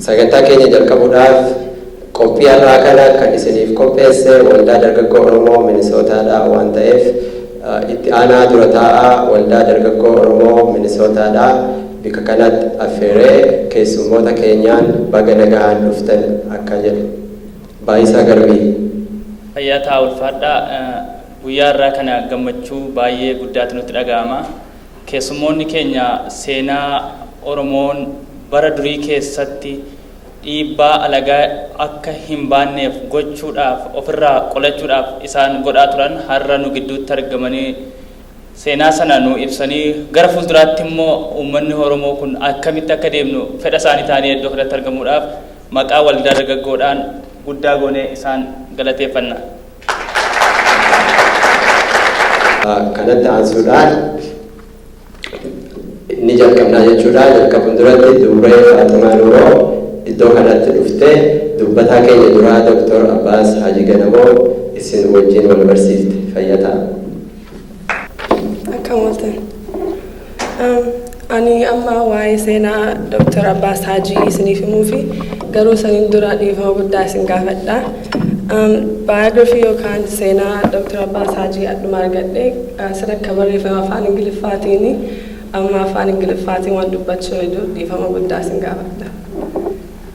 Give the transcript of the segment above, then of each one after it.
Sagantaa keenya jalqabuudhaaf qophii har'aa kana kan isiniif qopheesse Waldaa Dargaggoo Oromoo Minisootaa dha waan ta'eef Itti Aanaa Dura Taa'aa Waldaa Dargaggoo Oromoo Minisootaa dha bika kanatti affeeree keessummoota keenyaan baga nagahaan dhuftan akka jedhu. Baayisaa Garbii. Fayyaa ta'a ulfaadhaa. Guyyaa har'aa kana gammachuu baay'ee guddaatu nutti dhaga'ama. Keessummoonni keenya seenaa Oromoon bara durii keessatti dhiibbaa alagaa akka hin baanneef gochuudhaaf ofirraa qolachuudhaaf isaan godhaa turan har'a nu gidduutti argamanii seenaa sana nu ibsanii gara fuulduraatti immoo uummanni Oromoo kun akkamitti akka deemnu fedha isaanii ta'anii iddoo kanatti argamuudhaaf maqaa waldaa dargaggoodhaan guddaa goonee isaan galateeffanna. Kanatti aansuudhaan ni jalqabnaa jechuudha. Jalqabuun duratti Dubree Faaximaa Nuuroo iddoo kanatti dhuftee dubbataa keenya duraa Doktor Abbaas Haajii Ganamoo isin wajjin wal barsiifte. Fayyaa ta'a. Akkam ooltan. Um, Ani amma waa'ee seenaa Dr. Abbaa Saajii isiniif himuu fi garuu saniin dura dhiifama guddaa isin gaafadha. Um, Biography yookaan seenaa Dr. Abbaa Saajii adduma argadhe uh, sirri akka barreeffame afaan Ingiliffaatiin amma afaan Ingiliffaatiin waan dubbachuu hedduu dhiifama guddaa isin gaafadha.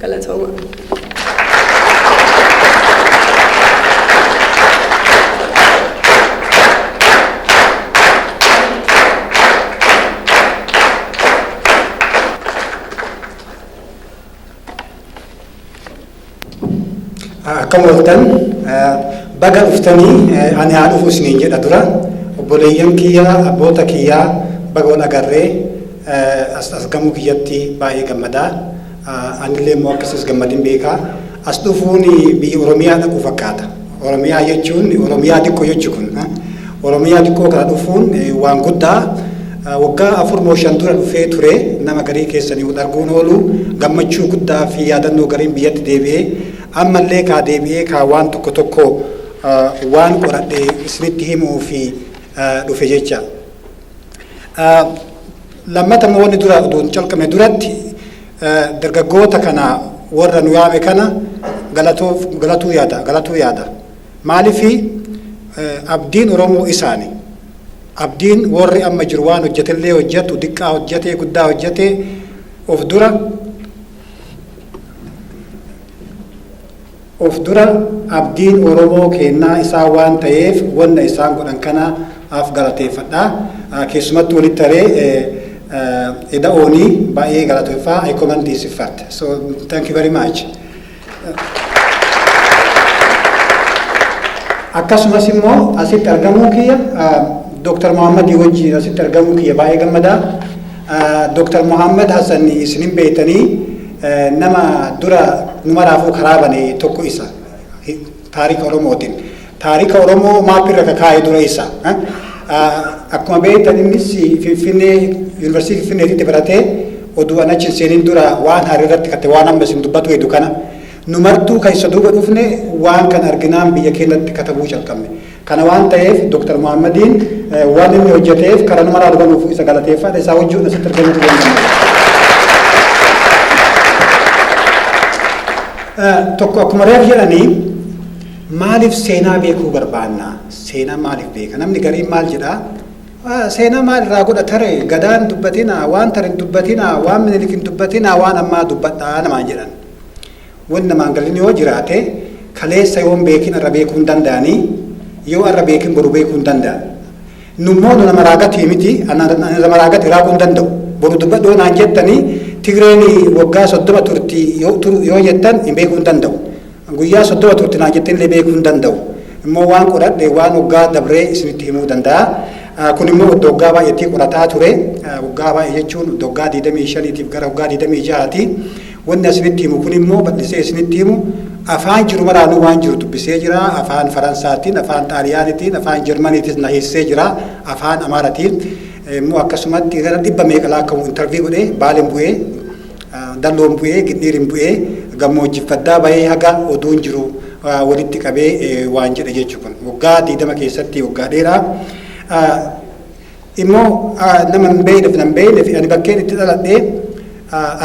Galatooma. Akkam ooltan baga dhuftanii ani haa dhufu isiniin jedha dura obboleeyyan kiyya abboota kiyyaa baga wal agarree as argamuu kiyyatti baay'ee gammadaa. Anillee immoo akka sis gammadin beeka. As dhufuun biyya Oromiyaa dhaquu fakkaata. Oromiyaa jechuun Oromiyaa xiqqoo jechu kun. Oromiyaa xiqqoo kana dhufuun waan guddaa waggaa afur moo shan dura dhufee ture nama garii keessanii wal arguun oolu gammachuu guddaa fi yaadannoo gariin biyyatti deebi'ee ammallee kaa deebi'ee kaa waan tokko tokko waan qoradhe isinitti himuu fi dhufe jecha. Lammata immoo wanni dura odoo hin calqabne duratti dargaggoota kana warra nu yaame kana galatoof galatuu yaada galatuu yaada. Maalifi abdiin Oromoo isaani. Abdiin warri amma jiru waan hojjetellee hojjetu diqqaa hojjetee guddaa hojjetee of dura Of dura abdiin Oromoo keennaa isaan waan tayeef wanna isaan godhan kana af galateeffadha. Keessumattu walitti aree eda'ooni baay'ee galatoeffa I comment this effort. So thank you very much. Akkasumas immoo asitti argamuu kiyya Dr. Mohammadii wajjiin asitti argamuu kiyya baay'ee gammadaa. Dr Mohammed Hassan isin hin beektanii nama dura numaraafuu karaa bane tokko isa taarika Oromootiin. Taarika Oromoo maapirra ka kaa'e dura isa. Akkuma beektan innis Finfinnee Yuunivarsiitii Finfinneetitti baratee oduu an achi hin seenin dura waan haarii irratti kate waan amma isin dubbatu hedu kana. Numartuu kan isa duuba dhufne waan kan arginaan biyya keenyatti katabuu calqabne. Kana waan taheef Dr. Mohammadiin waan inni hojjateef kara numaraa dabaluuf isa galateeffaadha. Isaa wajjuun asitti argamuu hin dandeenye. Tokko akkuma reef jedhanii maaliif seenaa beekuu barbaanna? Seenaa maaliif beeka? Namni gariin maal jedhaa? Seenaa maal irraa godha tare? Gadaan dubbatinaa, waan tare hin dubbatinaa, waan minilik hin dubbatinaa, waan ammaa dubbadhaa namaan jedhan. Won namaan galin yoo jiraate kaleessa yoon beekin arra beekuu hin danda'anii yoo arra beekin boru beekuu hin danda'an. Nu immoo nu nama raagatii miti ana nama raagati raaguu hin danda'u. Boru dubbadhu yoo naan jettanii Tigreen waggaa soddoma turti yoo turu yoo jettan hin beekuu hin danda'u. Guyyaa soddoma turti naan jettan illee beekuu hin danda'u. Immoo waan qoradhe waan waggaa dabree isinitti himuu danda'a. Kun immoo iddoo waggaa baay'eetii qorataa ture. Waggaa baay'ee jechuun iddoo waggaa 25tiif gara waggaa 26ti. Wanni asinitti himu kun immoo bal'isee isinitti himu afaan jiru maraanuu waan jiru dubbisee jira, afaan Faransaatiin, afaan Xaaliyaanitiin, afaan Jarmaniitiis na hiissee jira, afaan Amaaratiin immoo akkasumatti gara dhibba meeqa laakkawu intervii godhe, Baalen bu'ee, Dalloon bu'ee, Gindhiirin bu'ee, gammoojjiif baddaa bahee haga oduun jiru walitti qabee waan jedhe jechu kun. Waggaa 20 keessatti waggaa dheeraa. immoo nama hin beekneef nan beekneef ani bakkeen itti dhaladhee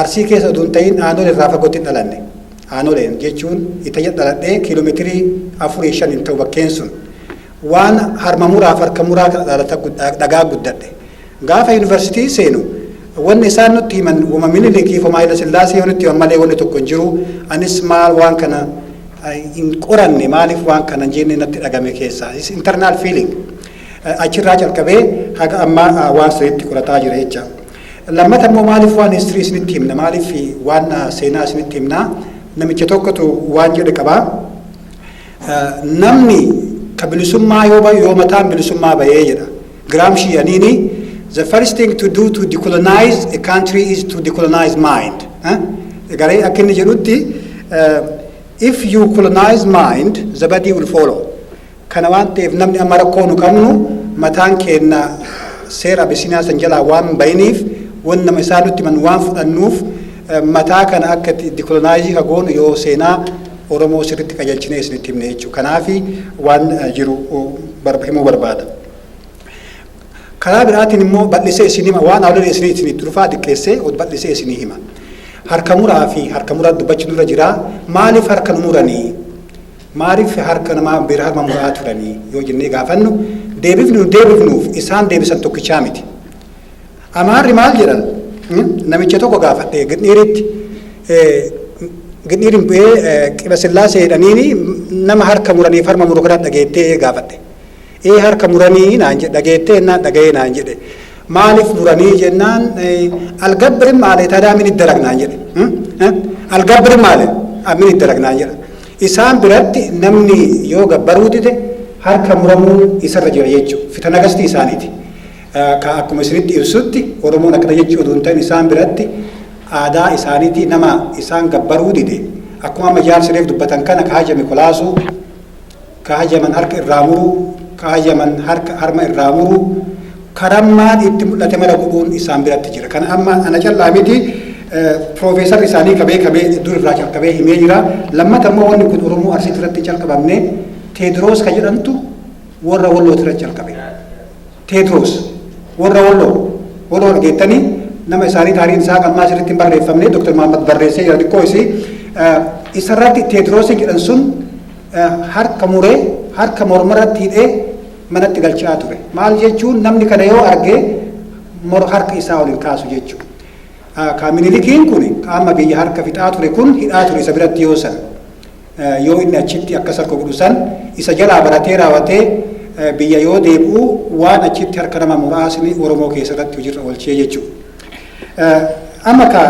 arsii keessa oduu hin ta'in aanolee irraa fagootti hin dhalanne aanoleen jechuun itayya dhaladhee kiiloomeetirii afurii shan hin ta'u bakkeen sun waan harma muraaf harka muraa kana dhaalata dhagaa guddadhe gaafa yuunivarsiitii seenu wanni isaan nutti himan wama mililikii fi maayila sillaasee yoo nutti himan malee wanni tokko hin jiru anis maal waan kana hin qoranne maaliif waan kana hin jenne natti dhagame keessaa is internal feeling Achirraa calqabee haga ammaa waan sanitti qorataa jira jecha. Lammata immoo maaliif waan history isinitti himna maaliif waan seenaa isinitti himna namicha tokkotu waan jedhe qaba. Namni ka bilisummaa yoo bayu yoo mataan bilisummaa bayee jedha. Gramsci aniini the first thing to do to decolonize a country is to decolonize mind. Garee akka inni jedhutti if you colonize mind the body will follow. Kana waan ta'eef namni amma rakkoo nu qabnu mataan keenna seera Abisiiniyaa san jalaa waan bahiniif wan nama isaan nutti himan waan fudhannuuf mataa kana akka itti dikolonaayiizii ka goonu yoo seenaa Oromoo sirritti qajeelchinee isinitti himne jechuu kanaafi waan jiru himuu barbaada. Karaa biraatiin immoo bal'isee isin hima waan awlali isinii isinii durfaa diqqeessee od bal'isee isinii hima. Harka muraa fi harka muraa dubbachuun irra jira maaliif harka nu muranii Maaliif harka namaa biraa mamuraa turanii yoo jennee gaafannu deebifni nu deebifnuuf isaan deebisan tokkichaa miti. Amaarri maal jedhan namicha tokko gaafadhe gidhiiritti gidhiirin bu'ee qiba sillaasee jedhaniini nama harka muraniif harma muru kana dhageettee gaafadhe. Ee harka muranii naan jedhe dhageettee jennaan dhagayee naan jedhe maalif muranii jennaan algabbirin maale tadaa min iddarag naan jedhe algabbirin maale min iddarag naan jedha isaan biratti namni yoo gabbaruu dide harka muramuun isarra jira jechu fitana gasti isaaniti ka akkuma isinitti ibsutti oromoon akkana jechuu oduu hin ta'in isaan biratti aadaa isaaniti nama isaan gabbaruu dide akkuma amma jaarsi reef dubbatan kana ka haja mikolaasuu ka hayyaman harka irraa muruu, ka hayyaman harka harma irraa muruu, ka rammaan itti mul'ate mara godhuun isaan biratti jira. Kana amma ana callaa miti, piroofeesarri isaanii ka beekame dur irraa calqabee himee jira. Lammata immoo wanni kun Oromoo Arsiitti irratti hin calqabamne, Teediroos ka jedhantu warra Wallootti irratti calqabe. Teedroos, Warra Walloo, Walloo argeettanii? Nama isaanii taariin isaa ammaa asirratti hin barreeffamne, Dr. Mahammad barreessee jira xiqqoo isii. Isarratti Teedroos jedhan sun harka muree, harka mormarratti hidhee manatti galchaa ture. Maal jechuun namni kana yoo arge mor harka isaa ol hin kaasu jechuudha. Kaa Minilikiin kun qaama biyya harka fixaa ture kun hidhaa ture isa biratti yoo san. Yoo inni achitti akkas harka godhu san isa jalaa baratee raawatee biyya yoo deebi'u waan achitti harka nama muraasni Oromoo keessarratti hojiirra oolchee jechuudha. Amma ka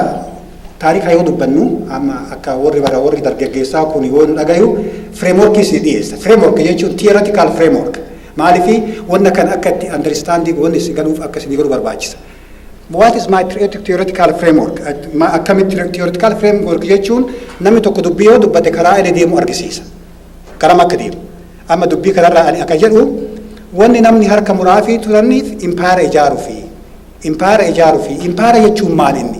taarikaa yoo dubbannu amma akka warri bara warri dargaggeessaa kun yoo nu dhagayu fireemworkii isin dhiyeessa. Fireemwork jechuun tiyeeratikaal fireemwork. Maaliif wanna kan akka itti andaristandii wanni isin galuuf akka isin galu barbaachisa. What is my theoretic- theoretical framework? At- ma- Akkamitti theoretical framework jechuun namni tokko dubbii yoo dubbate karaa inni deemu argisiisa. Karam akka deemu. Amma dubbii kanarraa ani akka jedhu wanni namni harka muraa fi turaniif impaara ijaaruu fi impaara ijaaruu fi impaara jechuun maal inni?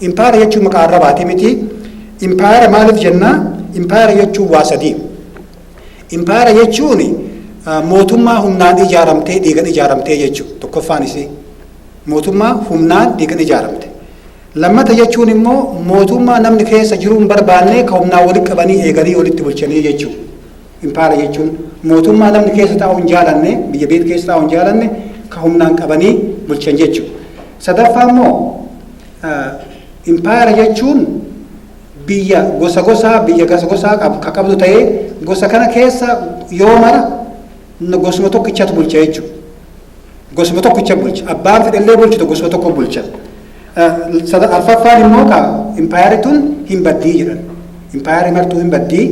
Impaara jechuun maqaa arrabaati miti. Impaara maaliif jennaa? Impaara jechuun waa sadii. Impaayera jechuun mootummaa humnaan ijaaramtee dhiigan ijaaramtee jechuudha. Tokkoffaan isii mootummaa humnaan dhiigan ijaaramte. Lammata jechuun immoo mootummaa namni keessa jiruu hin barbaanne ka humnaan walitti qabanii eeganii walitti bulchanii jechuudha. Impaayera jechuun mootummaa namni keessa taa'u hin jaalanne biyya beet keessa taa'u hin jaalanne ka humnaan qabanii bulchan jechuudha. Sadaffaa immoo impaayera jechuun biyya gosa gosaa, biyya gasa gosaa qab, ka qabdu ta'ee, gosa kana keessa yoo mara n- gosuma tokkichatu bulcha jechuudha. Gosuma tokkicha bulcha. Abbaan fedhellee bulchitu gosuma tokko bulcha. Eh, sada- Arfaffaan immoo ka impaayarri tun hin baddii jedhan. Impaayarri martuu hin baddii.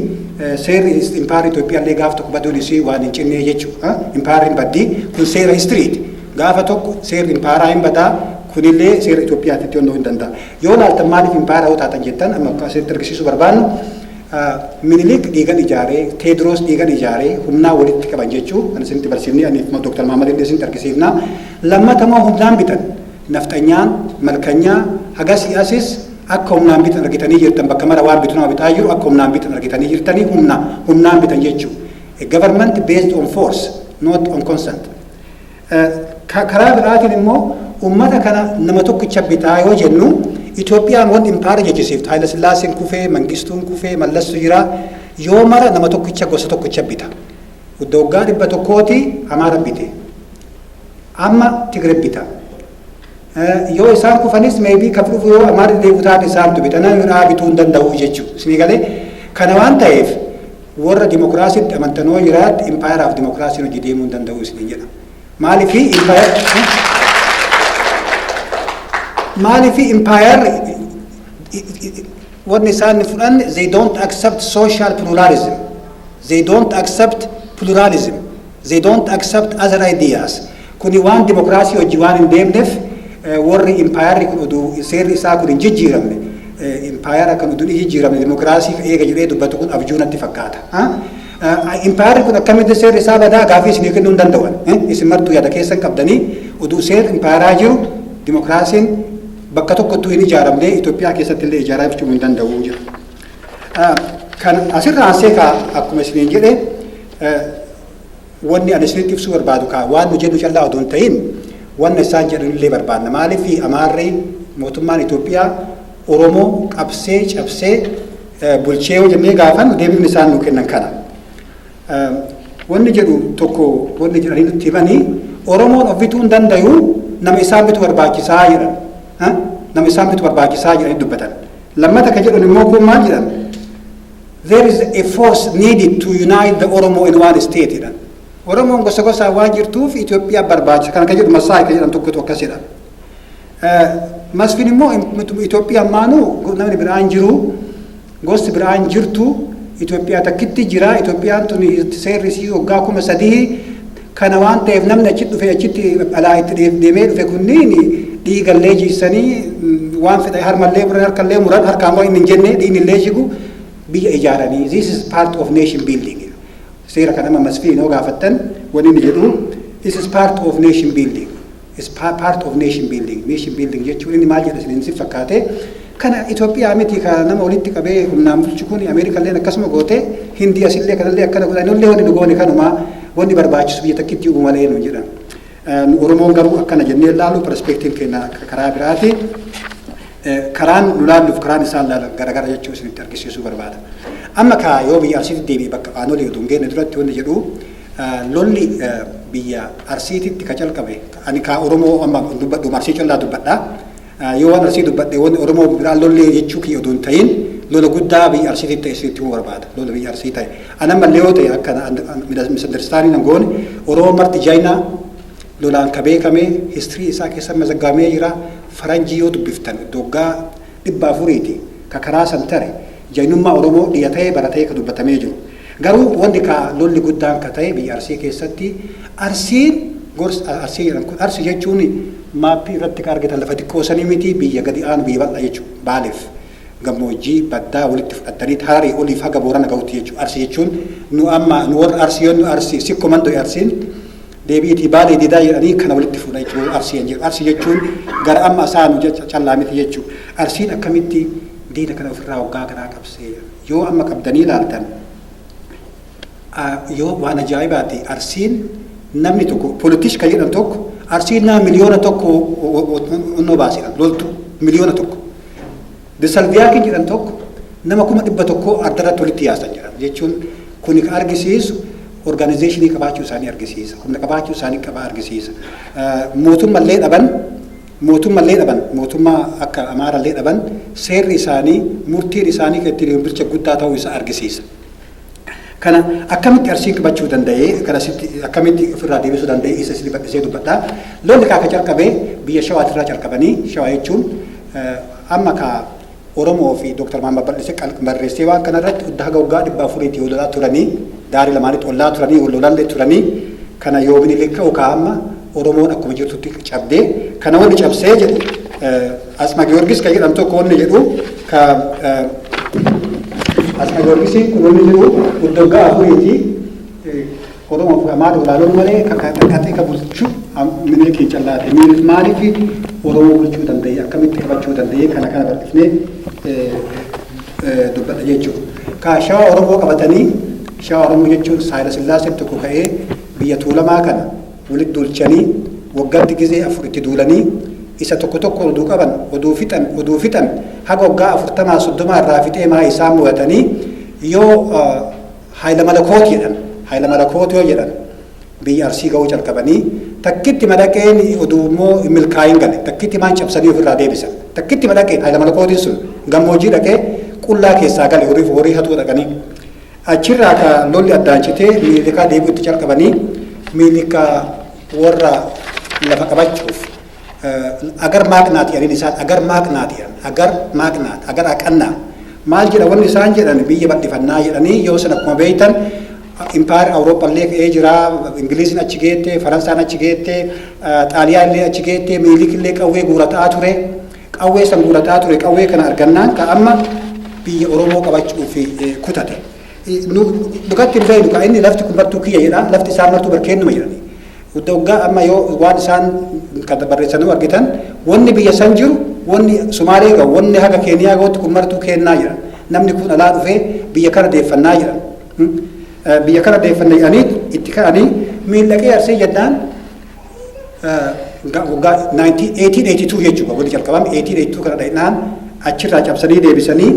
eh, Seerri is- impaayarri Itoophiyaallee gaaf tokko baduun isii waan hin cinnee jechuudha. Impaayarri hin baddii. Kun seera histiriiti. Gaafa tokko seerri impaayaraa hin badaa. Kunillee seera Itoophiyaatti itti hondoo hin danda'a. Yoo laaltan maaliif impaayera yoo taatan jettan amma akka isinitti argisiisuu barbaannu Minilik dhiigan ijaaree, Teediroos dhiigan ijaaree humnaa walitti qaban jechuu kan isinitti barsiifnee ani immoo Dooktar Mahammad illee isinitti argisiifna. Lammata immoo humnaan bitan. Nafxanyaan, malkanyaa hagasii asis akka humnaan bitan argitanii jirtan bakka mara waan bitu nama bitaa jiru akka humnaan bitan argitanii jirtanii humna humnaan bitan jechuu. A government based on force not on consent. Karaa biraatiin immoo uummata kana nama tokkicha bitaa yoo jennu Itoophiyaan wan impaara jechisiiftu Haayila Sillaaseen kufee, Mangistuun kufee, Mallassu jira yoo mara nama tokkicha gosa tokkicha bita. Waggaa dhibba tokkooti Amaara bite. Amma Tigire bita. Yoo isaan kufanis maybe ka dhufu yoo amaa deddeebi'u taate isaantu bita namni biraa bituu hin danda'u jechuudha. Isinii galee kana waan ta'eef warra dimokiraasiitti amantan yoo jiraatti impaayeraaf dimokiraasiin hojii deemuu hin danda'u isiniin jedha. Maaliif maaliif impaayerri wanni isaan fudhan they don't accept social pluralism. They don't accept pluralism. They don't accept other ideas. Kuni waan dimokiraasii wajji waan hin deemnef worri impaayarri kun udu seerri isaa kun hin jijjiiramne impaayara kan udu ni jijjiiramne dimokiraasiif eega jedhee dubbatu kun abjuu natti fakkaata. Impaayarri kun akkamitti seerri isaa badaa gaafii isinii kennuu hin danda'an. Isin martuu yaada keessan qabdanii udu seerri impaayaraa jiru dimokiraasiin bakka tokkottuu hin ijaaramne Itoophiyaa keessatti illee ijaaraa jechuu hin danda'u jira. Kan asirra aansee kaa akkuma isiniin jedhe Wanni ani isinitti ibsuu barbaadu kaa waan nu jennu callaa odoo hin tahin wanna isaan jedhan illee barbaanna. Maaliif Amaarri mootummaan Itoophiyaa Oromoo qabsee cabsee bulchee yoo jennee gaafannu deebiin isaan nuu kennan kana. Wanni jedhu tokko wanni jedhanii nutti himanii Oromoon of bituu hin dandayu nama isaan bitu barbaachisaa jedhan. Nama isaan bitu barbaachisaa jedhanii dubbatan. Lammata kan jedhan immoo kun maal jedhan? there is a force needed to unite the Oromo in one state jedhan. Oromoon gosa gosaan waan jirtuuf Itoophiyaa barbaachisa kan akka jedhu Masaay kan jedhan tokkotu akkas jedha. Masfin immoo Itoophiyaa maanuu namni biraan jiru gosti biraan jirtu Itoophiyaa takkitti jira Itoophiyaan tuni seerri isii waggaa kuma sadii Kana waan ta'eef namni achi dhufee achitti alaa itti dheef- deemee dhufe kunniin dhiigallee jiisanii mm, waan fedha harmallee muran harkallee muran harkaan waan inni hin jenne dhiignillee jigu biyya ijaaranii this is part of nation building seera kan amma masfiin yoo gaafattan wanni inni jedhu this is part of nation building is part of nation building. Nation building jechuun inni maal jedha isiniin sin fakkaate kana Itoophiyaa miti ka nama walitti qabee humnaan bulchu kun Ameerikalleen akkasuma goote Hindii asillee kanallee akkana godha nullee wanni nu goone kanumaa wanni barbaachisu biyya takkitti uuma malee nu jedhan. Nu Oromoon garuu akkana jennee ilaalu perspektiiv keenya akka karaa biraati. Karaan nu laalluuf karaan isaan laalan garagara jechuu isinitti argisiisuu barbaada. Amma kaa yoo biyya arsiitti deebi'e bakka aanolee utuu hin geenne duratti wanni jedhu Lolli biyya Arsiititti ka calqabe, ani ka Oromoo amma dubbadhuma Arsii callaa dubbadha. Yoo waan Arsii dubbadhe wanni Oromoo biraa lollee jechuu kiyya odoo hin tahin lola guddaa biyya Arsiititti ta'e isinitti himuu barbaada. Lola biyya Arsii ta'e. Ani ammallee yoo ta'e akka misunderstanding hin goone Oromoon marti Jaayinaa lolaan ka beekame history isaa keessa mazaggabamee jira. Faranjii yoo dubbiftan waggaa dhibba afuriiti ka karaa san tare Jaayinummaa Oromoo dhiya ta'ee baratee ka dubbatamee jiru. Garuu wanti kaa lolli guddaan ka ta'e biyya Arsii keessatti Arsiin gors Arsii jedhan kun Arsi jechuun maappii irratti ka argitan lafa xiqqoo sanii mitii biyya gadi aanu biyya bal'aa jechuu Baaleef gammoojjii baddaa walitti fudhattaniit Hararii oliif haga Boorana gahutti jechuu Arsi jechuun nu amma nu warra Arsi yoo nu Arsi sikko mando'e Arsiin deebi'itii Baalee didaa jedhanii kana walitti fuudha jechuu Arsii an jedhu Arsi jechuun gara amma asaanu callaa miti jechuu Arsiin akkamitti diina kana ofirraa waggaa kanaa qabsee Yoo amma qabdanii ilaaltan yoo waan ajaa'ibaati Arsiin namni tokko politish kan jedhan tokko Arsiin nama miliyoona tokko onnoo baaseedha loltuu miliyoona tokko. Disalviyaakiin jedhan tokko nama kuma dhibba tokkoo addarratti walitti yaasan jedhan jechuun kuni kan argisiisu orgaanizeeshinii qabaachuu isaanii argisiisa humna qabaachuu isaanii qaba argisiisa mootummallee dhaban Mootumma illee dhaban, mootumma akka Amaara illee dhaban seerri isaanii, murtiin isaanii kan ittiin bircha guddaa ta'uu isaa argisiisa. Kana akkamitti Arsiin qbachuu danda'ee, kan asitti akkamitti of irraa deebisuu danda'ee isa isiniif bal'isee dubbadha. Lolli kaa ka calqabe biyya Shawaatirraa calqabanii, Shawaa jechuun amma ka Oromoo fi Dr. Mahammad Bal'ise qalq barreessee waan kana irratti udda haga waggaa 400 ti wololaa turanii daarii lamaanitti ollaa turanii wollolallee turanii kana yoo Minilik ka'u kaa amma Oromoon akkuma jirtutti cabdee kana wonni cabsee jedhu Atsma Giyorgis ka jedhamu tokko wonni jedhu ka Atsma Giyorgisiin kun wonni jedhu udda waggaa 4 ti Oromoof dhamaa dha olaaloon malee qaxee ka bulchu Minilikiin callaa ta'e. Minilik maaliif Oromoo bulchuu danda'e akkamitti qabachuu danda'e kana kana bal'ifnee dubbadha jechuudha. Ka shawa Oromoo qabatanii shawa Oromoo jechuun Saayila Sillaaseen tokko ka'ee biyya Tuulamaa kana walitti duulchanii waggaatti gizee afur itti duulanii isa tokko tokko oduu qaban oduu fixan oduu fixan haga waggaa afurtamaa soddomaa irraa fixee maa isaan mo'atanii yoo Hayila Malakoot jedhan. Hayila Malakoot yoo jedhan biyya Arsii ga'uu calqabanii takkitti madhaqeen oduu immoo hin milkaa'iin gale. Takkitti maan cabsanii ofirraa deebisan. Takkitti madhaqeen Hayila Malakootiin sun gammoojjii dhaqee qullaa keessaa gale horii horii hatuu dhaqanii. Achirraa ka lolli addaan citee miilikaa deebi'utti calqabanii miilikaa warra lafa qabachuuf agar maaqnaat jedhan isaan agar maaqnaat jedhan agar maaqnaat agar aqannaa maal jedha wanni isaan jedhan biyya bal'ifannaa jedhanii yoo san akkuma beektan impaayar awurooppaa illee ka'ee jira ingiliiziin achi geette faransaan achi geette xaaliyaan illee achi geette miilik illee qawwee guurataa ture qawwee san guurataa ture qawwee kana argannaan ka amma biyya oromoo qabachuuf kutate dhugatti hin beeknu ka inni lafti kun martuu kiyya jedha lafti isaa martuu barkeennuma jedhani Hudda hoggaa amma yoo waan isaan kan barreessanuu argitan wanni biyya san jiru wanni Sumaalee gahu wanni haga Keeniyaa gahutti kun martuu keennaa jedhan. Namni kun alaa dhufee biyya kana deeffannaa jedhan. Biyya kana deeffanna jedhanii itti ka'anii miil dhaqee arsee jennaan waggaa 1882 jechuudha wanni jalqabame 1882 kana dhaqnaan achirraa cabsanii deebisanii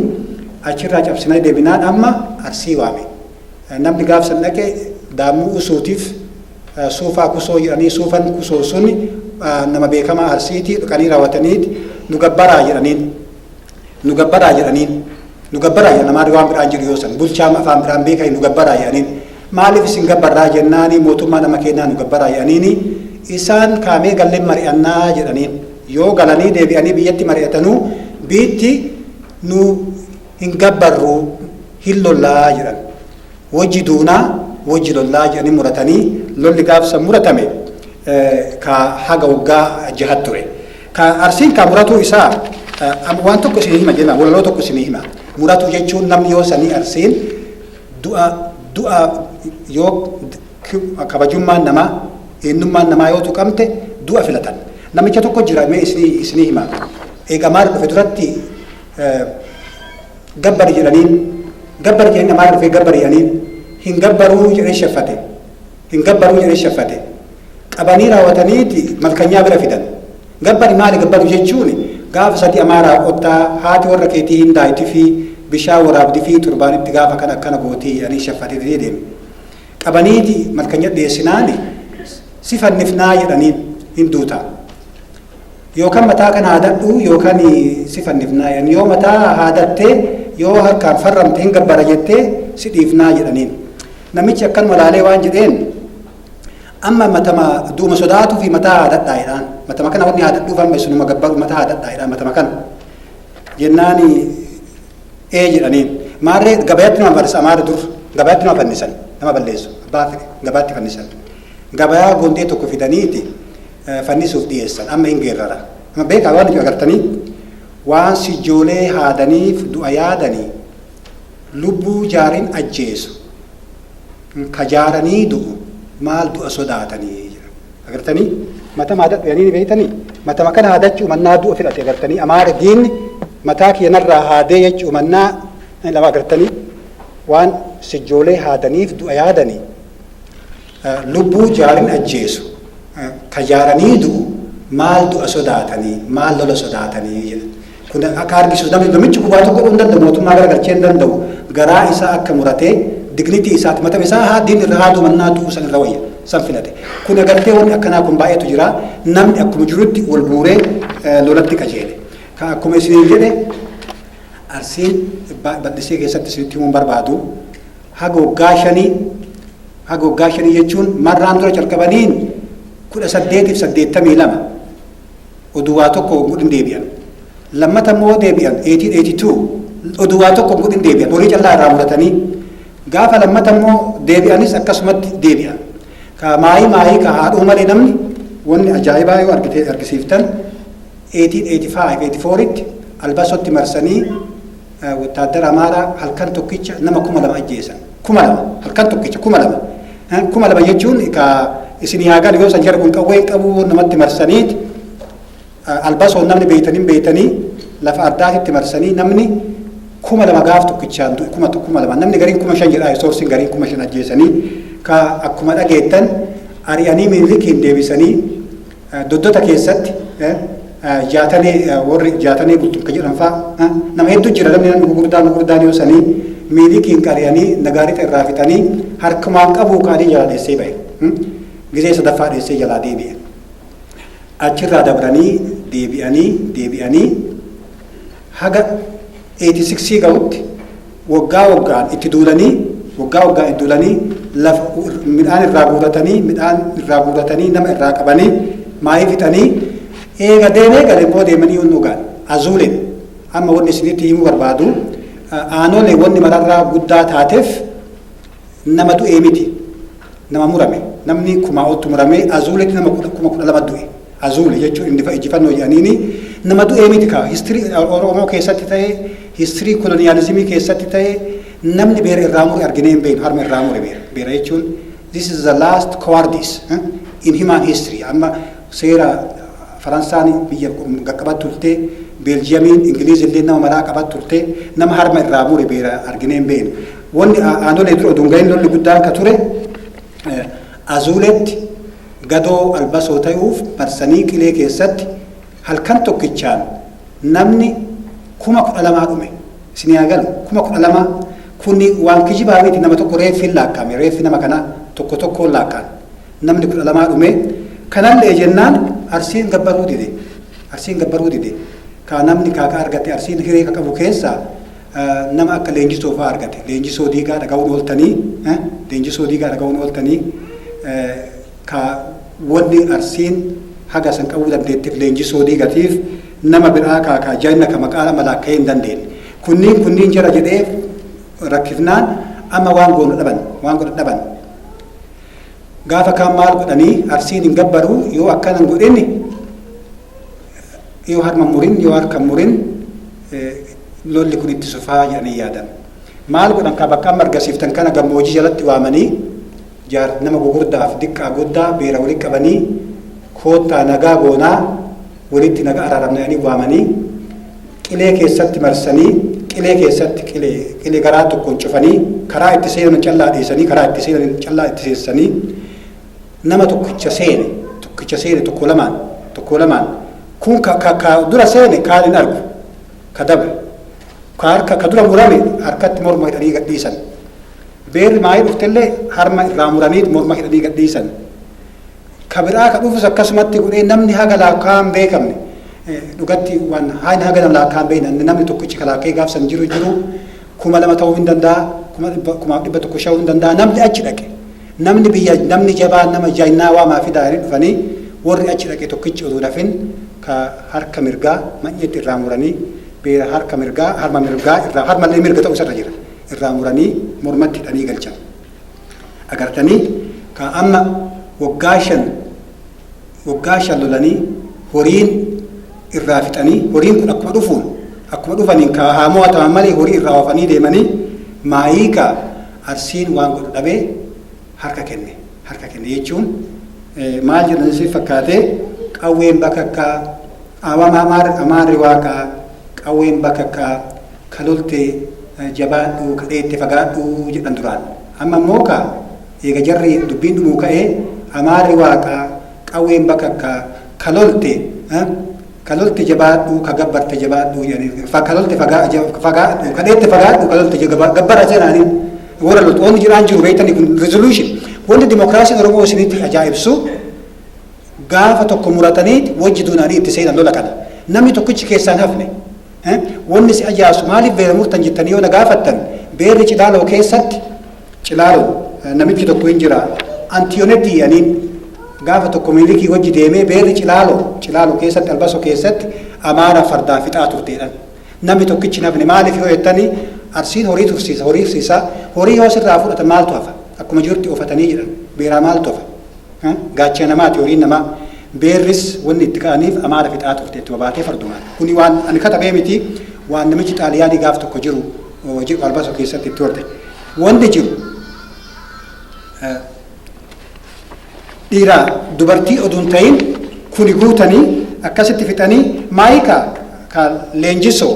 achirraa cabsinee deebinaan amma arsii waame. Namni gaaf san dhaqe Daammuu Usuutiif Suufaa Kusoo jedhanii Suufan Kusoo sun nama beekamaa Arsiiti dhaqanii raawwatanii nu gabbaraa jedhaniin. Nu gabbaraa jedhaniin. Nu gabbaraa jedhan maali waan biraan jedhu yoo san bulchaa afaan biraan beekanii nu gabbaraa jedhaniin. Maaliif isin gabbarraa jennaani mootummaa nama keenyaa nu gabbaraa jedhaniini isaan kaamee galleen mari'annaa jedhaniin. Yoo galanii deebi'anii biyyatti mari'atanuu biitti nu hin gabbarru hin lolla jedhan. Wojji duuna wojji lolla jedhanii muratanii lolli gaaf san muratame ka haga woggaa jahat ture. Ka Arsiin kaa muratuu isaa am- waan tokko isinii hima jenna walaloo tokko isinii hima. Muratuu jechuun namni yoo sanii Arsiin du'a du'a yoo k- kabajummaan namaa eenyummaan namaa yoo tuqamte du'a filatan. Namicha tokko jira mee isinii isinii hima. Eega maal dhufe duratti gabbari jedhaniin gabbari jedhanii namaa dhufee gabbari jedhaniin hin gabbaruu jedhee sheffate hin gabbaruu jedhee sheffate qabanii raawwataniiti malkanyaa bira fidan gabbari maali gabbaru jechuun gaafa sadii amaaraa qottaa haati warra keetii hin daayitifi bishaan waraabdifi turbaanitti gaafa kan akkana gootii jedhanii sheffatee didee deeme qabaniiti malkanya dhiyeessinaani si fannifnaa jedhaniin hin duutaa Yookan mataa kan haadadhu yookan si fannifnaa jedhan. Yoo mataa haadatte, yoo harkaan farramte hin gabbara jette si dhiifnaa jedhaniin. Namichi akkanuma laalee waan jedheen amma matama du'uma sodaatu fi mataa haadadhaa jedhaan. Matama kana wanni haadadhuuf amma isinuma gabbaru mataa haadadhaa jedhaan matama kana. Jennaan ee jedhaniin. Maarree gabayatti nama farsa amaara dur gabayatti nama fannisan nama balleessu abbaa gabaatti fannisan. Gabayaa gondee tokko fidaniiti fannisuuf dhiyeessan amma in geerrara. Amma beekaa waan ijoo agartanii waan sijjoolee haadaniif du'a yaadanii lubbuu jaarin ajjeesu ka jaaranii du'u maal du'a sodaatanii jedha. Agartanii matama haadadhu yanii ni beektanii matama kana haadachuu mannaa du'a fedhate agartanii amaara diinni mataa kiyyanarraa haadee jechuu mannaa lama agartanii waan sijjoolee haadaniif du'a yaadanii Lubbuu jaarin ajjeesu, ta jaaranii du'u maal du'a sodaatanii, maal lola sodaatanii jedha. Kun akka argisu namni namichi gubaa tokko godhuu hin danda'u, mootummaa gara galchee hin danda'u, garaa isaa akka muratee dignity isaati mata isaa haa diin irra haaduu mannaa du'u san irra wayya san filate. Kun agartee wanni akkanaa kun baay'eetu jira. Namni akkuma jirutti wal guuree lolatti qajeele. Ka akkuma isiniin jedhe Arsiin bal'isee keessatti isinitti himuun barbaadu. haga waggaa shanii haga waggaa shanii jechuun marraan dura calqabaniin kudha saddeetiif saddeettamii lama oduu waa tokko hogguu hin deebi'an lammata immoo deebi'an eetiin eetii tuu oduu waa tokko hogguu hin deebi'an horii callaa irraa muratanii gaafa lammata immoo deebi'anis akkasumatti deebi'an ka maayii maayii ka haadhuu malee namni wanni ajaa'ibaa yoo argite argisiiftan eetiin eetii faayiv eetii fooritti albasotti marsanii Wottaaddara Amaaraa halkan tokkicha nama kuma lama ajjeesan. Kuma lama! Halkan tokkicha kuma lama! Kuma lama jechuun egaa isinii haa galu yoo san jara kun qawwee hin qabu namatti marsaniit albasoon namni beeytan hin beeytanii lafa ardaatitti marsanii namni kuma lama gaaf tokkichaan du'e kuma kuma lama namni gariin kuma shan jedhaa soorsiin gariin kuma shan ajjeesanii ka akkuma dhageettan ari'anii minilikiin deebisanii Doddota keessatti jaatanee warri jaatanee bultu akka jedhan fa'a nama hedduu jira namni namni gurgurdaan gurgurdaan yoo sanii miilikiin qariyanii nagaarixa irraa fixanii harkumaan qabuu kaanii jalaa dheessee ba'e. Gizee sadaffaa dheessee jalaa deebi'e. Achirraa dabranii deebi'anii deebi'anii haga 86 ga'utti waggaa waggaan itti duulanii waggaa waggaan itti duulanii lafa midhaan irraa guuratanii midhaan irraa guuratanii nama irraa qabanii maayii fixanii eega deemee gale immoo deemanii yoon dhugaan azuuleen amma wanni isinitti himuu barbaadu aanolee wanni mararraa guddaa taateef Nama du'ee miti nama murame namni kumaa'otti muramee azuuletti nama kudha- kuma kudha lama du'e azuule jechuun innifa ijjifannoo jedhaniini nama du'ee miti kaa histirii oromoo keessatti ta'e histirii koloniyaalizimii keessatti ta'e namni beera irraa mure arginee hin beeknu harma irraa mure beera beera jechuun this is the last cowardice eh, in human history amma seera faransaan biyya qaqqabat turte beeljiyamiin ingiliiz illee nama maraa qabat turte nama harma irraa mure beera arginee hin beeknu Wanni aanolee dura odoo hin gahin lolli guddaan ka ture Azuuleetti gadoo Albasoo tayuuf marsanii Qilee keessatti halkan tokkichaan namni 12,000 dhume. Isinii haa galu 12,000 kun waan kijibaa miti nama tokko reeffiin laakka'ame reeffi nama kanaa tokko tokkoon laakka'an namni 12 dhume kanallee jennaan Arsiin gabbaruu dide Arsiin gabbaruu dide ka namni kaakaa argate Arsiin hiree ka qabu keessaa Nama akka Leenjisoo fa'aa argate. Leenjisoo Diigaa dhaga'uun ooltanii? Leenjisoo Diigaa dhaga'uun ooltanii? Ka wanni Arsiin haga san qabuu dandeetteef Leenjisoo Diigatiif nama biraa ka ka jagna ka maqaa nama laakka'ee hin dandeenne. Kunniin kunniin jara jedhee rakkifnaan amma waan goonu dhaban, waan godhan dhaban. Gaafa kaan maal godhanii Arsiin hin gabbaru yoo akkana hin godhin yoo harma hin murin yoo harka hin murin lolli kun itti fufaa jedhanii yaadan. Maal godhan kaa bakka amma argasiiftan kana gammoojii jalatti waamanii jaar nama gugurdaaf diqqaa guddaa beera walitti qabanii koottaa nagaa goonaa walitti nagaa araaramna jedhanii waamanii qilee keessatti marsanii qilee keessatti qilee qilee garaa tokkoon cufanii karaa itti seenan callaa dhiisanii karaa itti seenan callaa itti seensanii nama tokkicha seene tokkicha seene tokko lamaan tokko lamaan kun ka, ka, ka dura seene kaan hin argu ka dabre, ka harka ka dura murame harkatti morma hidhanii gad dhiisan, beerri maayii dhuftellee harma irraa muraniit morma hidhanii gad dhiisan, ka biraa ka dhufus akkasumatti godhee namni haga laakkaa'aa hin beekamne dhugatti waan haga nama laakkaa'aa hin beekne namni tokkichi ka laakka'ee gaafsan jiru jiru kuma lama ta'uu hin danda'a, kuma dhibba, kumaaf dhibba tokko sha'uu hin danda'a, namni achi dhaqe. Namni biyya, namni jabaan nama jagnaa waamaa fi daa'anii dhufanii warri achi dhaqe tokkichi utuu nafin ka harka mirgaa manyeetti irraa muranii beera harka mirgaa, harma mirgaa irraa, harma illee mirga ta'uu isarra jira. Irraa muranii mormatti hidhanii galchan. Agartanii ka amma waggaa shan Woggaa shan lolanii horiin irraa fixanii horiin kun akkuma dhufuun akkuma dhufaniin ka haa mo'ataman malee horii irraa oofanii deemanii maayii ka Arsiin waan godhu dhabee harka kenne harka kenne jechuun maal jedhan isin fakkaatee qawween bakakkaa amama amaar amaarri waaqaa qawween bakakkaa ka lolte jabaadhu ka dheette fagaadhu jedhan duraan amma immoo ka Eega jarri dubbiin dhumuu ka'ee Amaarri Waaqa, qawween bakakka, ka lolte, ka lolte jabaadhu, ka gabbarte jabaadhu jedhaniin, ka lolte fagaadhu, ka dheette fagaadhu, ka lolte gabbara jedhaniin warra loltu. Wanni jedhaan jiru beektanii kun resolution. Wanni dimokiraasiin Oromoo isinitti ajaa'ibsu gaafa tokko muratanii wajji duunaanii itti seenan lola kana. Namni tokkichi keessaa hin hafne. Wanni si ajaa'ibsu maaliif beela murtan jettanii yoo na gaafattan beelli Cilaaloo keessatti Cilaaloo namichi tokko hin jira Antiyonetii aniin gaafa tokko miilikii wajji deemee beelli Cilaaloo Cilaaloo keessatti Albaso keessatti amaara fardaa fixaa turteedhan. Namni tokkichi nafne maaliif yoo jettanii arsiin horii tursiisa horii fsiisaa horii yoo sirraa fudhatan maaltu hafa akkuma jirutti ofatanii jedhan beelaa maaltu hafa. Gaachena namaati horiin namaa. Beerris wanni itti ka'aniif Amaara fixaa turte ittuma baatee fardumaan. Kuni waan ani katabee miti, waan namichi Xaaliyaanii gaaf tokko jiru jedhu Arbaso keessatti itti horde. Wanni jiru dhiiraa dubartii oduu hin ta'iin kuni guutanii akkasitti fixanii Maayika ka Leenjisoo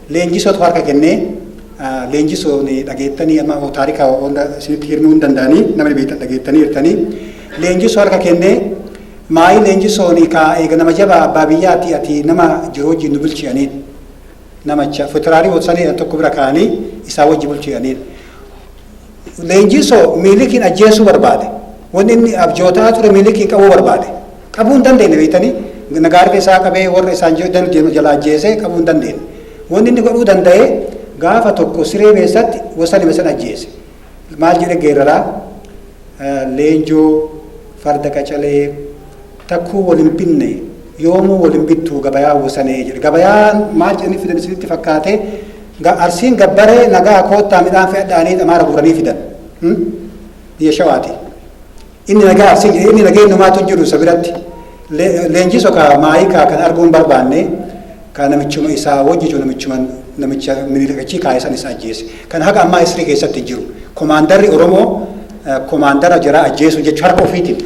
Leenjisootu harka kennee leenjisoon dhageettanii amma taarika hunda isinitti hirmuu hin danda'anii namni beektan dhageettanii hirtanii leenjisoo harka kennee maayii leenjisoon kaa eega nama jabaa abbaa biyyaati ati nama jiru wajjin nu bulchi aniin namacha futiraarii hoosanii tokko bira kaanii isaa wajji bulchi aniin Leenjii so miilikiin ajjeessuu barbaade. Wanni inni abjootaa ture miilikiin qabuu barbaade. Qabuu hin dandeenye beektanii nagaarri isaa qabee warra isaan jedhan deemu jala ajjeesee qabuu hin dandeenye. Wanni inni godhuu danda'e gaafa tokko siree keessatti wasan hime san ajjeese. Maal jedhe geeraraa leenjoo farda qacalee Takkuu wal hin binne yoomuu wal hin bittuu gabayaa wosanee jedhe gabayaan maal jedhanii fidan isinitti fakkaate Ga- arsiin gabbaree nagaa koottaa midhaan fe'adhaa jedhanii xamaara guuranii fidan Hmm? biyya shawaati inni nagaa arsiin jedhe inni nageenyumaatu hin jiru isa biratti Le- leenjii sokaa maayii kaa kan arguun barbaanne Ka namichuma isaa wajji jiru namichuma namicha Minilik achii kaa'e san isa ajjeese. Kan haga ammaa history keessatti jiru. Komaandarri Oromoo komaandara jaraa ajjeesuu jechuun harka ofiitiin.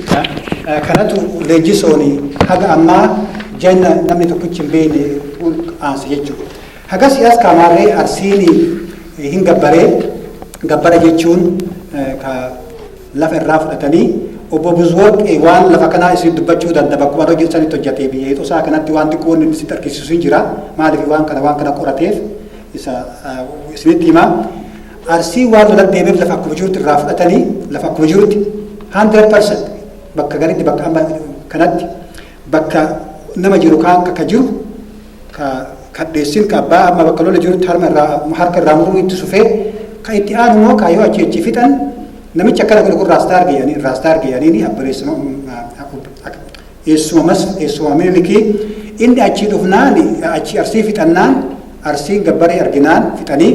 Kanatu Leenjisoon haga ammaa janna namni tokkichi hin beekne aanse jechuudha. Hagasii as kaamaarree Arsiin hin gabbaree gabbara jechuun ka lafa irraa fudhatanii obbo Buzworq waan lafa kanaa isin dubbachuu danda bakkuma irra hojjetu sanitti hojjatee biyya hixu isaa kanatti waan xiqqoo wanni inni sitti argisiisu hin jira maaliif waan kana waan kana qorateef isa isinitti hima arsii waan lolan deemeef lafa akkuma jirutti irraa fudhatanii lafa akkuma jirutti 100% bakka garitti bakka amma kanatti bakka nama jiru kaan akka jiru ka kadheessin ka abbaa amma bakka lola jirutti harma irraa harka irraa muruu itti sufee ka itti aanu immoo ka yoo achi achi fixan namichi akkana godhe kun raastaa arge jedhanii raastaa arge jedhanii abbareessuma eessuma mas eessuma mililikii inni achi dhufnaan achi arsii fixannaan arsiin gabbaree arginaan fixanii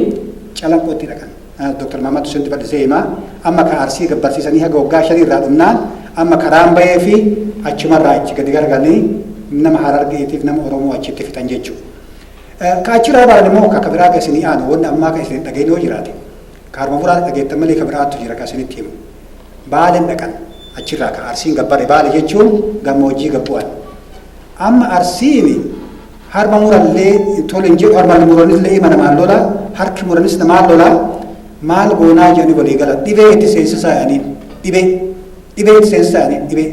calanqootti dhaqan. Dr. Mahammad Husseentu bal'isee hima. Amma ka Arsii gabbarsiisanii haga waggaa shanii irraa dhumnaan amma karaan baheefii achumarraa achi gadi garagalanii nama Harargeetiif nama Oromoo achitti fixan jechuu. Ka achirraa baane moo ka ka biraa ka isinii aanu wanni ammaa ka isin hin dhagahin yoo jiraate ka harma muraasa dhageettan malee ka biraattu jira ka isinitti himu. Baaleen dhaqan achirraa ka Arsiin gabbare baale jechuun gammoojjii gad bu'an. Amma Arsiini Harma murallee tole hin jedhu harma muranillee ima namaan lola harki muranis namaan lola maal goonaa jedhanii walii galan dhibee itti seensisaa jedhaniin dhibee dhibee itti seensisaa jedhaniin dhibee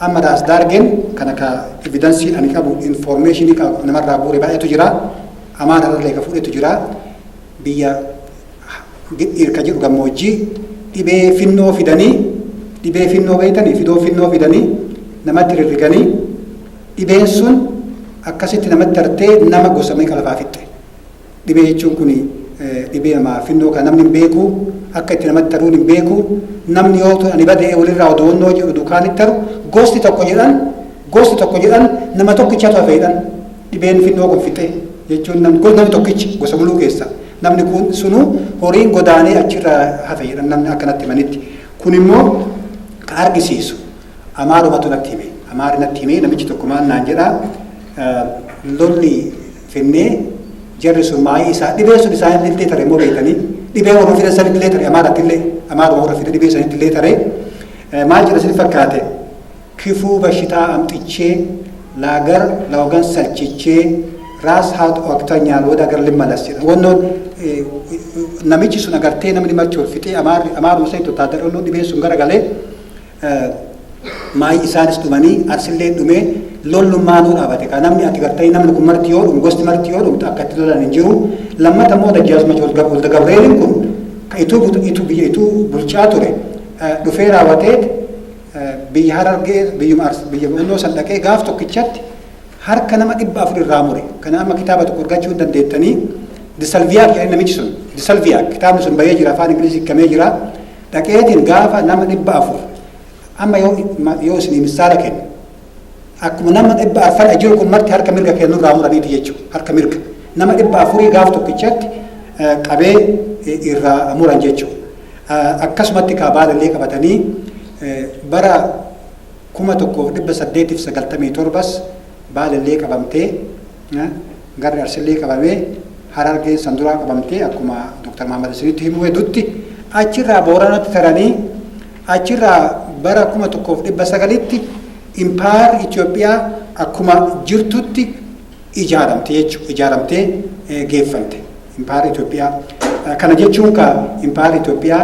amma daas daargeen kan akka evidansiin ani qabu informeeshinii qabu namarraa bu'uure baay'eetu jira amaararallee ka fudhetu jira biyya Gidhiir ka jedhu gammoojjii dhibee finnoo fidanii dhibee finnoo beeytanii fidoo finnoo fidanii namatti rirriganii dhibeen sun akkasitti namatti tartee nama gosa meeqa lafaa fixxe dhibee jechuun kun dhibee namaa finnoo kan namni hin beeku akka itti namatti taruun hin beeku namni yoo tun ani badee walirraa odoonnoo jedhu dukaanitti taru gosti tokko jedhan Gosti tokko jedhan nama tokkichatu hafe jedhan dhibeen finnoo kun fixee jechuun nam- gos- namni tokkichi gosa muluu keessa namni kun sunuu horiin godaanee achirra hafe jedhan namni akkanatti himanitti kun immoo kan argisiisu amaarumatu natti hime amaari natti hime namichi tokko maal naan jedhaa eh, lolli finnee jarri sun maayii isaa dhibee sun isaan illee tare immoo beekanii dhibee warra fidan san illee tare amaaratti illee amaaruma warra fidan dhibee san illee tare Eh, maal jedha sin fakkaate Kifuu bashitaa amxichee laagar laogan salchichee raas haat oakta nyaalwood agar limmalas jedhan wannoon namichi sun agartee namni marti wal fixee amaarri amaaruma sanitti wotaadara wannoo dhibeen sun gara galee maayi isaanis dhumanii arsillee dhumee lollu maanuu dhaabate kaa namni ati gartanii namni kun marti yoo dhumu gosti marti yoo dhumtu akka itti lolan hin jiru lammata immoo dajjaazmach walda gabreelin kun ka ituu ituu biyya ituu bulchaa ture dhufee raawwateet biyya Harargee biyyuma Arsii biyya Bo'onnoo san dhaqee gaaf tokkichatti harka nama dhibba afur irraa mure. Kana amma kitaaba tokko argachuu hin dandeettanii Disalviyaak jedhee namichi sun Disalviyaak kitaabni sun bahee jira afaan Ingilizii hiikamee jira. Dhaqeetiin gaafa nama dhibba afur amma yoo yoo isinii misaala kennu Akkuma nama dhibba arfan ajiru kun marti harka mirga kee nurraa muraniiti jechu harka mirga nama dhibba afurii gaaf tokkichatti qabee irraa muran jechu akkasumatti kaa baalallee qabatanii bara kuma tokkoof dhibba saddeetiif sagaltamii torbas baalallee qabamtee garri arsillee qabamee harargeen san duraa qabamtee akkuma Dr. Mahammad Isinitti himuu hedduutti achirraa booranatti taranii Achirraa bara 1900tti Empire Ethiopia akkuma jirtutti ijaaramte jechuudha. Ijaaramtee geeffamte Empire Ethiopia. Kana jechuun ka Empire Ethiopia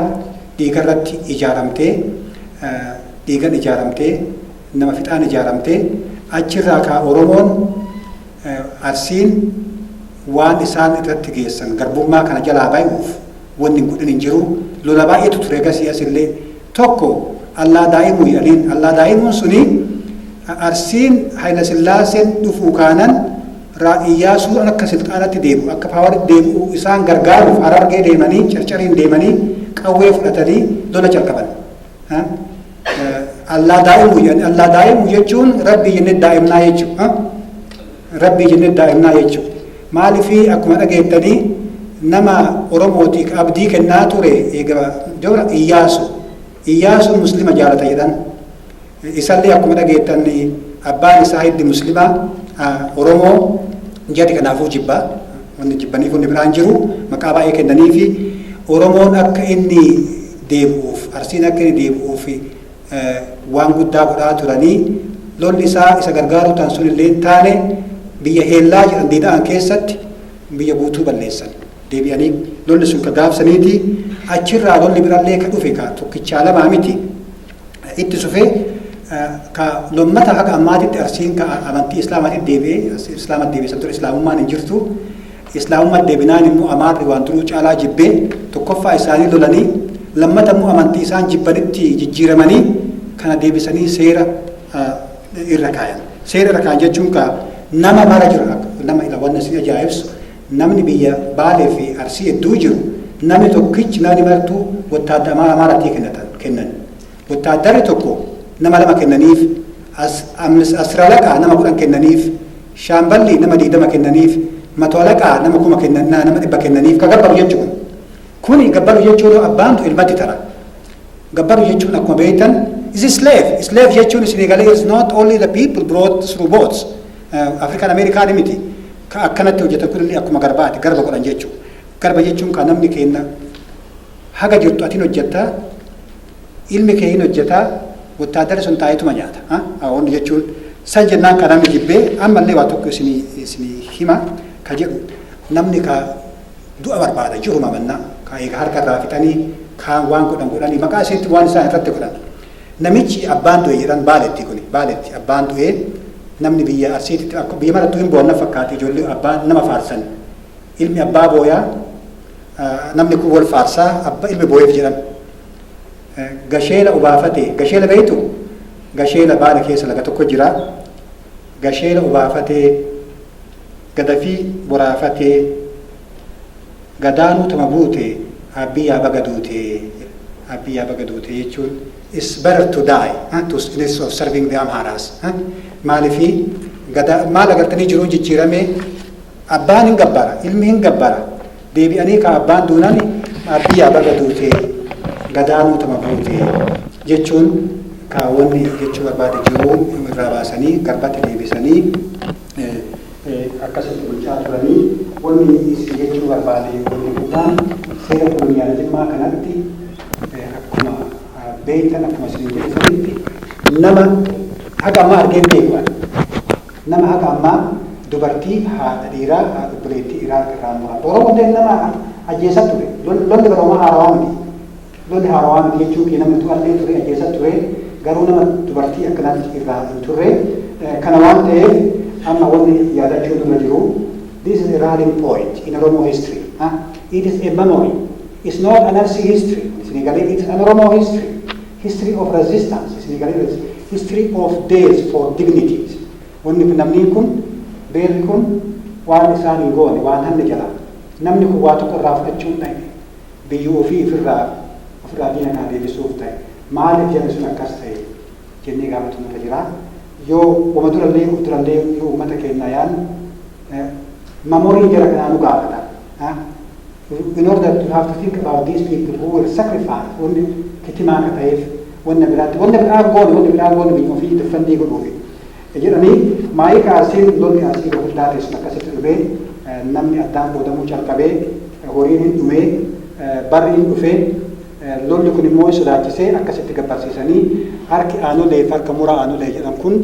dhiigarratti ijaaramtee, dhiigan ijaaramtee, nama fixaan ijaaramtee achirraa ka Oromoon Arsiin waan isaan irratti geessan garbummaa kana jalaa bay'uuf wanni hin godhin hin jiru. Lola baay'eetu ture egasii as illee. Tokko Allaa Daa'imuuyi Aliin. Allaa Daa'imuun suni Arsiin Haylasillaaseen dhufuu kaanan Ra. Iyyaasuun akka silxaanatti deebi'u, akka paawaritti deebi'u isaan gargaaruuf Harargee deemanii, Carcariin deemanii qawwee fudhatanii lola calqaban. Allaa daa'imu jedhan allaa daa'imu jechuun rabbii jennee daa'imnaa jechuudha. Rabbii jennee daa'imnaa jechuudha. Maaliif akkuma dhageettanii nama Oromootiif abdii kennaa ture egaa dura Iyyaasu. Iyyaasu muslima jaalata jedhan. Isallee akkuma dhageettan abbaan isaa hiddi muslima Oromoo jedhe kanaafuu jibba. Wanni jibbanii kun biraan jiru maqaa baay'ee kennaniifi Oromoon akka inni deebi'uuf, Arsiin akka inni deebi'uuf waan guddaa godhaa turanii, lolli isaa isa gargaaruu tan sun illee hin taane, biyya Heellaa jedhan Diida'an keessatti biyya guutuu balleessan. Deebi'anii lolli sun ka gaaf saniiti, achi irraa lolli biraa illee ka dhufe ka tokkichaa lamaa miti, itti sufee ka lommata haga ammaatitti Arsiin ka amantii Islaamaatitti deebi'e, Islaamatti deebi'e, san dura Islaamummaan hin jirtu, Islaamummat debinaan immoo Amaarri waan duruu caalaa jibbee tokkoffaa isaanii lolanii lammata immoo amantii isaan jibbanitti jijjiiramanii kana deebisanii seera irra kaayan. Seera irra kaayan jechuun kaa nama mara jiru nama ila wanna si ajaa'ibsu namni biyya Baalee fi Arsii hedduu jiru namni tokkichi namni martuu wottaadda Amaara Amaaratii kennatan kennan. Wotaaddarri tokko nama lama kennaniif, Asiralaqaa nama kudhan kennaniif, Shaamballi nama digdama kennaniif, Matoalaqaa nama kuma kennannaa nama dhibba kennaniif ka gabbaru jechu'u. Kuni gabbaru jechu'u abbaan du'e ilmatti tara. Gabbaru jechu'un akkuma beeytan is slave. Slave jechu'un isinii galee is not only the people brought through boats. African American miti. Ka akkanatti hojjetan kunillee akkuma garbaati. Garba godhan jechu'u. Garba jechu'un ka namni keenna haga jirtu atin hojjetta Ilmi kee hin hojjeta, wottaadarri sun taa'eetuma nyaata. Ha? Awoonni jechuun san jennaan ka namni jibbee ammallee waa tokko isinii isinii hima ka jedhu namni ka du'a barbaada jiruma mannaa ka eega harka irraa fixanii kaan waan godhan godhanii maqaa isiitti waan isaan irratti godhan. Namichi abbaan du'e jedhan baaletti kuni baaletti abbaan du'ee namni biyya arsiititti akka biyya marattuu hin boo'an na fakkaata ijoollee abbaa nama faarsan. Ilmi abbaa booyaa namni kun wal faarsaa abba ilmi booyeef jedhan gasheela obaafate gasheela beeytu gasheela baala keessa laga tokko jira gasheela obaafatee gadafii boraafatee gadaanuu tama buute abbii yaa baga duute abbii yaa baga duute jechuun is better to die huh? to instead of serving the Amharas huh? maalifi gadaa maal agartanii jiruun jijjiiramee Abbaan hin gabbara, ilmi hin gabbara, deebi'anii kaa abbaan duunani Abbiyaa baga duute, gadaa nuutuma buute jechuun kaa wanni jechuu barbaade jiruu irraa baasanii garbatti deebisanii akkasitti bulchaa turanii. Wanni isin jechuu barbaade wanni guddaan seera koloniyalizimmaa kanatti akkuma beektan akkuma isinin jedhe sanitti nama haga ammaa argee hin beeku ani. Nama haga ammaa dubartii, haadha dhiiraa, obboleettii Iraaq irraa mura. Oromoo illee nama ajjeesaa ture. Lolli bara homaa haarawaa miti. Lolli haarawaa miti jechuun kiyya namni du'aa illee ture, ajjeesaa ture. Garuu nama dubartii akkanaatti irraa hin turre. Kana waan ta'eef amma wanni yaadachuu nurra jiru this is a rallying point in Oromo history. It is a memory. It's not an Arsii history. Isinii galee it is an Oromo history. History of resistance isinii galee bees History of death for dignity isin wanni kun namnii kun beerri kun waan isaan hin goone waan hanne jalaa namni kun waa tokko irraa fudhachuun dhaye biyyu ofii ifirraa ofirraa diina kana deebisuuf taye maaliif jarri sun akkas taye jennee gaafatuun irra jiraa yoo wama durallee of durallee yoo ummata keennaa yaannu mamorii jara kanaa nu gaafata. In order to have to think about these people who were sacrificed wanni kitimaa akka ta'eef wanna biraatti wanna biraa goone wanna biraa goone biyya ofii defendii godhuufi jedhanii maayii kaasiin lolli asii guddaa keessumaa akkasitti dhufee namni addaan qoodamuu calqabee horiin hin dhumee barri hin dhufee lolli kun immoo sodaachisee akkasitti gabbarsiisanii harki aanolee fi harka muraa aanolee jedhan kun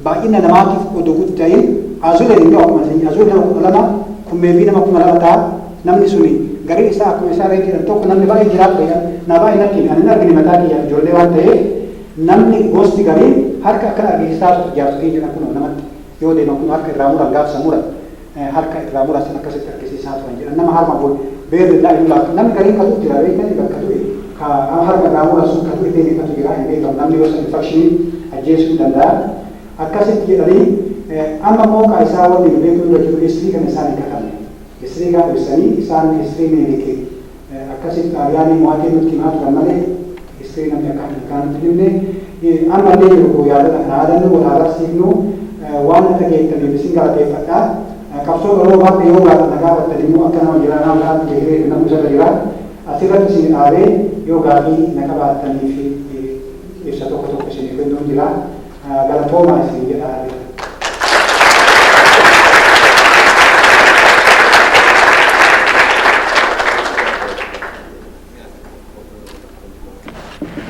Baay'ina namaatiif odoo guutu ta'ee Azuleen immoo akkuma sanyii Azuul nama 12 kummeefi nama 2000 ta'a, namni suni gariin isaa akkuma isaa re'ee jedhan tokko namni baay'ee jiraadhu jedhan naa baay'ee natti hime ani hin argine mataa kiyyaaf ijoollee waan ta'eef namni gosti gariin harka akkana argisiisaa turte jaarsotiin jedhan kunoo namatti yoo deeman kunoo harka irraa muran gaafsa muran harka irraa murasan akkasitti argisiisaa turan jedhan nama harma kun beerri irraa inu laaftu namni gariin ka du'u jira beektani bakka du'e ka nama harma irraa mura sun ka du'e illee meeqatu jira hin beekamu namni yoo san infakshiniin ajjeesuu danda'a akkasitti jedhanii amma immoo ka isaa wanni nu beekuu irra jiru history kana isaan hin katabne history kaan ibsanii isaan history minilikii Akkasitti Xaaliyaanii mo'atee nutti himaa turan malee history namni akka akeekaa nutti hin himne. Amma illee jiru koo yaadota kana yaadannu wal haa barsiifnu. Waan na dhageettaniif isin galateeffadha. Qabsoo Oromoo bakka yoo baatan na gaafattan immoo akka nama jiraa nama biraatti itti hiree kennamu isarra jira. Asirratti isin dhaabee yoo gaaffii na qabaattaniif ibsa tokko tokko isiniif kennuun jira. Galatoomaa isin jedhaa jira.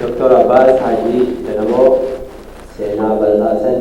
Doktor Abbaas Haajii Ganamoo seenaa bal'aa san